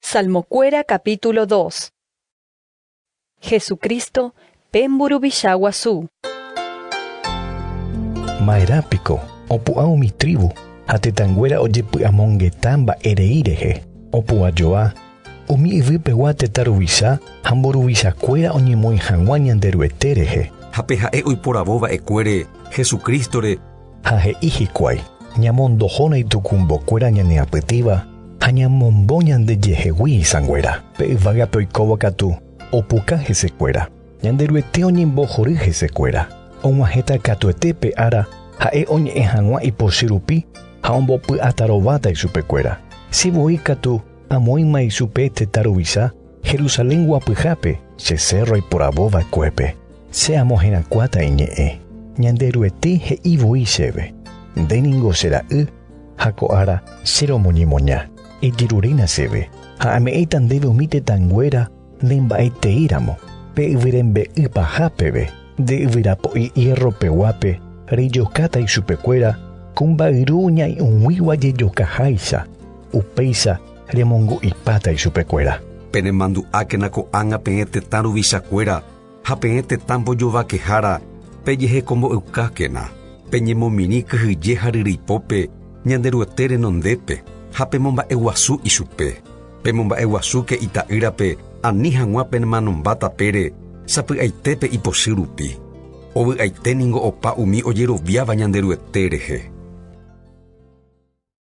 Salmokuéra capítulo dos. Hesu Crísto pe mburuvicha guasu. Maerã piko opu'ã umi trívu ha tetãnguéra ojepy'amongeta mba'erei rehe? Opu'ã joa umi yvy pegua tetã ruvicha ha mburuvichakuéra oñemoĩ hag̃ua Ñanderuete rehe. Ha pe ha'e oiporavo va'ekuére Hesu Crístore, ha he'i hikuái, Ñamondohóna itukumbokuéra ñane apytĩva ha ñamombo ñandejehegui isãnguéra. Pe yvágape oikóva katu opuka hesekuéra. Ñanderuete oñembohory hesekuéra. Og̃uahẽta katuete pe ára ha'e oñe'ẽ hag̃ua ipochy rupi ha ombopy'atarováta ichupekuéra. Che voi katu amoĩma ichupe tetã ruvicha Jerusalén guapyhápe che cérro iporavóvakuépe. Che amoherakuáta iñe'ẽ, Ñanderuete he'i voi chéve, Nde ningo che ra'y, ha ko ára che romoñemoña, ejeruréna chéve, ha ame'ẽta ndéve umi tetãnguéra ne mba'etei ramo, pe yvyrembe'y paha peve, nde yvyra po'i hiérro peguápe rejokáta ichupekuéra ko mba'yru ñai'ũguigua jejokaháicha, upéicha remongu'ipáta ichupekuéra. Penemandu'ákena ko'ág̃a peẽ tetã ruvichakuéra. ha peẽ tetã mbojovakehára pejehekombo'eukákena, peñemomirĩ kyhyje ha ryryipópe Ñanderuete renondépe ha pemomba'eguasu ichupe. Pemomba'eguasúke ita'ýrape ani hag̃ua permanomba tapére sapy'aite pe ipochy rupi. Ovy'aite ningo opa umi ojeroviáva Ñanderuete rehe.